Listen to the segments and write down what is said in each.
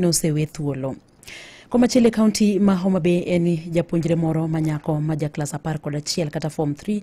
nosewe thuolo. Komachielo e kaunti ma Homa Bay en ni japuonjre moro ma nyako ma ja klas apar kod achiel kata form 3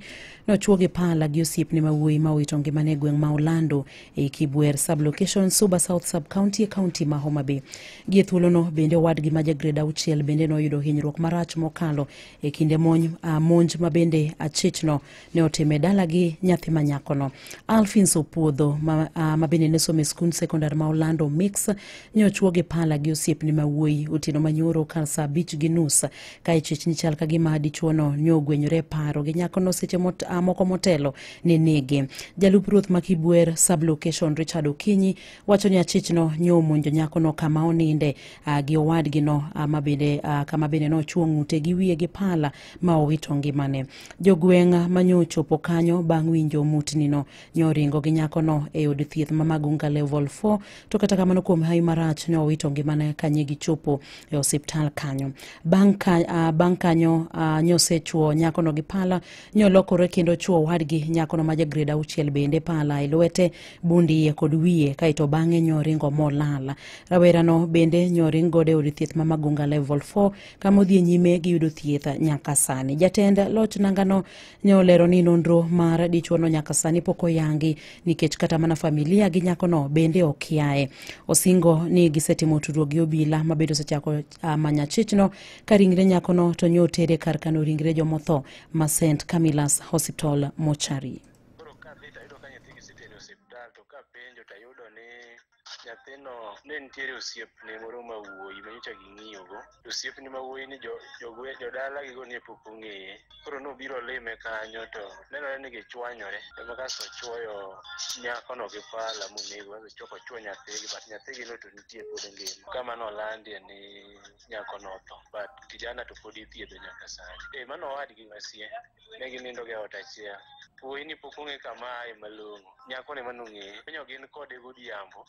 nochuo gi pala gi osiepne ma wuoyi ma owito ngimane e gweng' ma Olando e Kibwer sublocation Suba South sub county e kaunti ma Homa Bay. Gie thuolono bende owadgi ma ja grade auchiel bende noyudo hinyruok marach mokalo e kinde monj, ah, monj ma bende achichno ne otime dalagi nyathi ma nyakono alfins opuodho ma, uh, ma bende ne somo e skund sekondar ma olando mix ne ochuo gi pala gi osiepne ma wuoyi otieno manyoro kar saa abich gi nus ka ichich ni chal ka gima dichuono ne ogwenyore e paro gi nyakono seche mot, uh, moko motelo ne nege jalup ruoth ma kibwer sublocation richard okinyi wacho ni achichno ne omonjo nyakono kama oninde uh, gi owadgino uh, ma bende uh, kama bende nochuo ng'ute gi wiye gi pala ma owito ngimane. Jogweng' ma nyo ochopo kanyo bang' winjo mutnino nyo oringo gi nyakono e od thieth ma Magunga Level 4 to kata kamano kuom hawi marach nyo owito ngimane ka nyi gichopo e osiptal kanyo. Bang' ka, ah, bang' kanyo ah, nyo osechuo nyakono gi pala nyo olokore kendo ochuo wadgi nyakono ma ja grade auchiel bende pala e lwete, bund iye kod wiye kaeto bang'e nyo oringo molal. Rawerano bende nyo oring godo e od thieth ma Magunga Level 4 kama odhi e nyime gi yudo thieth nyaka sani. Jatend loch nangano ne olero ni nonro mar dichuono nyaka sani pok oyangi nikech kata mana familia gi nyakono bende ok yaye. Osingo ni gisetimo tudruok gi obila ma bende osechako ah, manya chichno ka ringre nyakono to nyo otere kar kano ringre jomotho ma St Camillus Hospital mochari. nyathino ne nitiere osiepne moro ma wuoyi ma nyocha ging'iyogo to osiepne ma wuoyi ni jo- jogwe- jodalagigo ne pok ong'eye koro nobiro lime kanyo to nenore ni gichwanyore ema kasto ochwoyo nyakono gi pala monego kasto chok ochwo nyathigi but nyathigi no to nitie pod ngima kama nolandie ni nyakono otho but kijana to pod ithiedho nyaka sani e mano owadgi masie ne ginindo e ot achiel wuoyi ni pok ong'e kama aye malong'o nyako ne mano ng'eye konyo gin kode godhiambo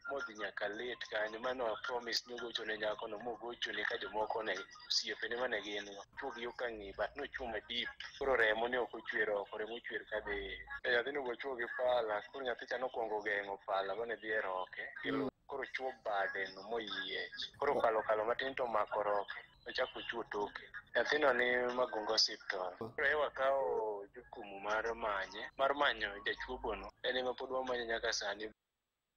modhi nyaka late kanyo mano promise ni ogocho ne nyako no mogocho ne ka jomoko ne osiepe ne mane gin chuog yo ka ng'i but nochuma deep koro remo ne ok ochwer oko remo ochwer ka dhi e nyathi no gochuo gi pala koro nyathi cha nokwongo geng'o pala mane dhi e roke mm. koro chuo bade no moyiech koro kalo kalo matin to mako roke ochako ochuo toke nyathino ni magunga osiptol koro ewa kawo jukumu mar manye mar manyo jachuogono en ema pod wamanyo nyaka sani